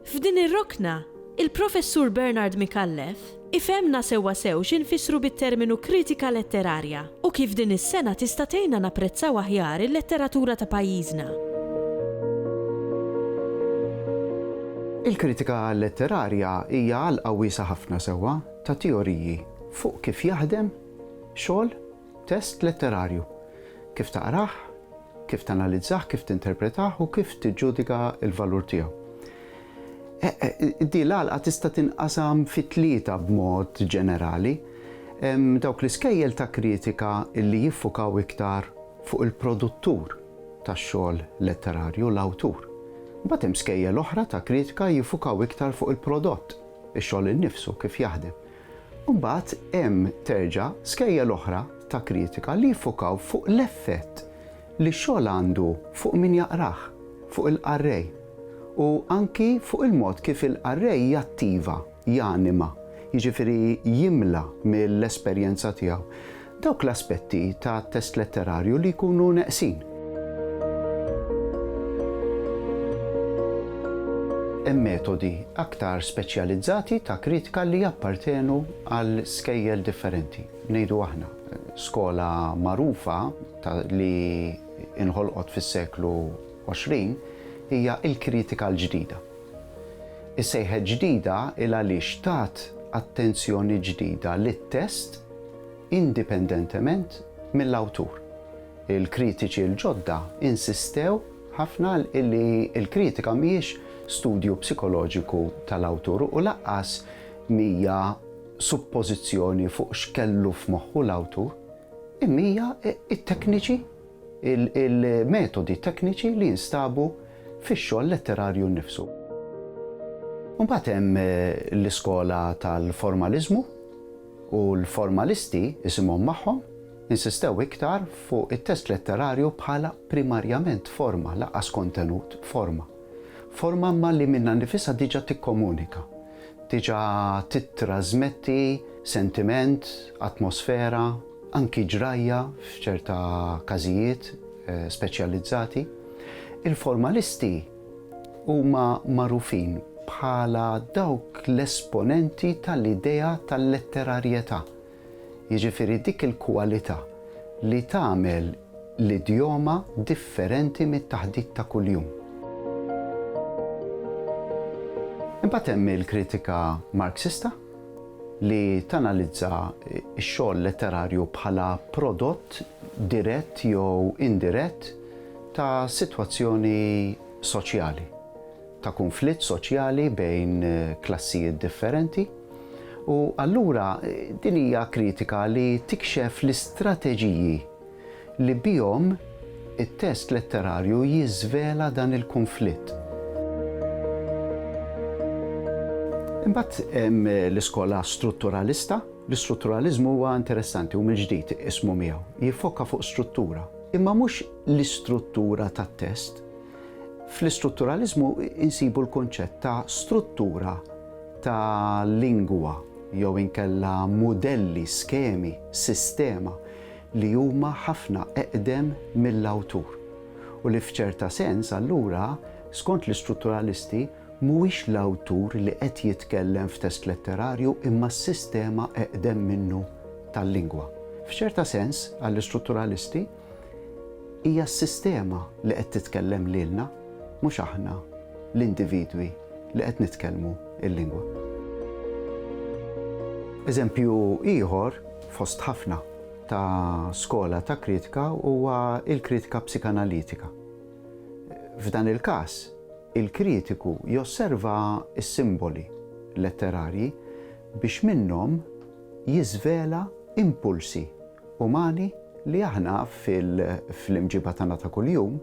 F'din ir-rokna, il-Professur Bernard Micallef ifhemna sewwa sew xi nfissru bit-terminu kritika letterarja u kif din is-sengħa tista' tgħinna napprezzaw aħjar il-letteratura ta' pajjiżna. Il-kritika letterarja hija għalqa wiesgħa ħafna sewwa ta' teoriji fuq kif jaħdem xogħol Test letterarju, kif taqrah, kif tanalizzah, kif tinterpretah u kif tiġġudika l-valur tiegħu. Din l-għalqa tista' tinqasam fi tlieta b'mod ġenerali. Hemm dawk l-iskejjel ta' kritika li jiffukaw iktar fuq il-produttur tax-xogħol letterarju, l-awtur. Imbagħad hemm skejjel oħra ta' kritika jiffukaw iktar fuq il-prodott, ix-xogħol innifsu, kif jaħdem. U mbagħad hemm, terġa', skejjel oħra ta' kritika li jiffokaw fuq l-effett li x-xogħol għandu fuq min jaqrah, fuq il-qarrej, u anki fuq il-mod kif il-qarrej jattiva, janima, jiġifieri jimla mill-esperjenza tiegħu. dawk l-aspetti ta' test letterarju li jkunu neqsin. Hemm metodi aktar speċjalizzati ta' kritika li jappartenu għal skejjel differenti. Ngħidu aħna, skola magħrufa li inħolqot fis-seklu 20 hija l-kritika l-ġdida. Is-sejħet ġdida il għaliex tat attenzjoni ġdida lit-test indipendentement mill-awtur. Il-kritiċi l-ġodda insistew ħafna li l-kritika mhijiex studju psikoloġiku tal-awtur u lanqas mhija suppożizzjoni fuq x'kellu f'moħħu l-awtur, imma hija t-tekniċi, il-metodi tekniċi li jinstabu fix-xogħol letterarju nnifsu. Imbagħad hemm l-iskola tal-formaliżmu. U l-formalisti, isimhom magħhom, insistew iktar fuq it-test letterarju bħala primarjament forma, lanqas kontenut, forma. Forma imma li minnha nnifisha diġà tikkomunika, diġà tittrażmetti sentiment, atmosfera, anki ġrajja f'ċerta każijiet speċjalizzati. Il-formalisti, Huma magħrufin bħala dawk l-esponenti tal-idea tal-letterarjetà, jiġifieri dik il-kwalità li tagħmel l-idjoma differenti mit-taħdit ta' kuljum. Imbagħad hemm il-kritika Marxista, li tanalizza x-xogħol letterarju bħala prodott dirett jew indirett ta' sitwazzjoni soċjali, ta' kunflitt soċjali bejn klassijiet differenti, u allura din hija kritika li tikxef l-istrateġiji li bihom it-test letterarju jiżvela dan il-kunflitt. Imbagħad hemm l-iskola strutturalista. L-istrutturaliżmu huwa interessanti u mill-ġdid ismu miegħu. Jiffokka fuq struttura, imma mhux l-istruttura tat-test. Fl-istrutturaliżmu insibu l-kunċett ta' struttura ta' lingwa jew inkella mudelli, skemi, sistema li huma ħafna eqdem mill-awtur u li f'ċerta sens allura, skont l-istrutturalisti, Mhuwiex l-awtur li qed jitkellem f'test letterarju imma s-sistema eqdem minnu tal-lingwa. F'ċerta sens, għall-istrutturalisti, hija s-sistema li qed titkellem lilna, mhux aħna, l-individwi, li qed nitkellmu l-lingwa. Eżempju ieħor, fost ħafna, ta' skola ta' kritika huwa l-kritika psikanalitika. F'dan il-każ, Il-kritiku josserva s-simboli letterarji biex minnhom jiżvela impulsi umani li aħna fl-imġiba tagħna ta' kuljum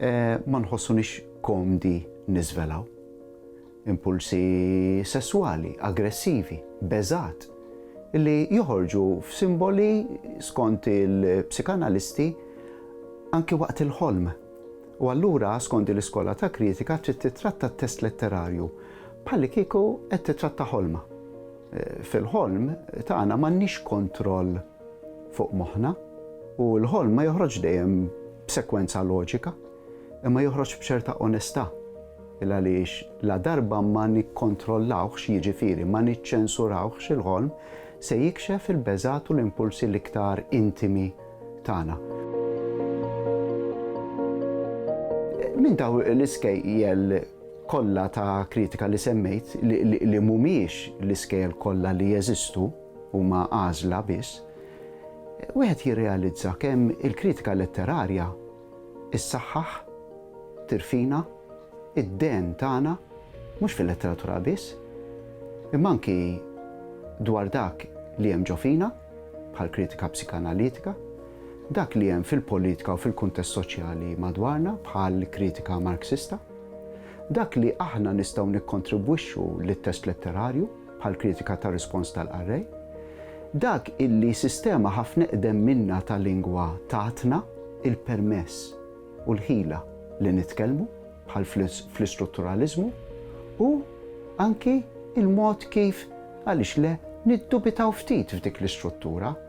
ma nħossuniex komdi niżvelaw. Impulsi sesswali, aggressivi, beżgħat, li joħorġu f'simboli, skont il-psikanalisti, anki waqt il-ħolm. U allura, skont din l-iskola ta' kritika, trid tittratta t-test letterarju bħallikieku qed tittratta ħolma. Fil-ħolm tagħna m'għandniex kontroll fuq moħħna u l-ħolm ma joħroġx dejjem b'sekwenza loġika, imma joħroġ b'ċerta onestà. Il-għaliex ladarba ma nikkontrollawhx, jiġifieri ma niċċensurawhx il-ħolm, se jikxef il-beżgħat u l-impulsi l-iktar intimi tagħna. Minn daw l-iskejjel kollha ta' kritika li semmejt li mhumiex l-iskejjel kollha li jeżistu huma għażla biss, wieħed jirrealizza kemm il-kritika letterarja issaħħaħ, tirfina, id-dehen tagħna, mhux fil-letteratura biss, imma anki dwar dak li hemm ġo fina, bħall-kritika psikanalitika, dak li hemm fil-politika u fil-kuntest soċjali madwarna, bħall-kritika Marxista, dak li aħna nistgħu nikkontribwixxu lit-test letterarju, bħall-kritika tar-rispons tal-qarrej, dak illi sistema ħafna iqdem minna ta' lingwa tatna l-permess u l-ħila li nitkellmu, bħal fl-istrutturaliżmu, u anki l-mod kif, għaliex le, niddubitaw ftit f'dik l-istruttura.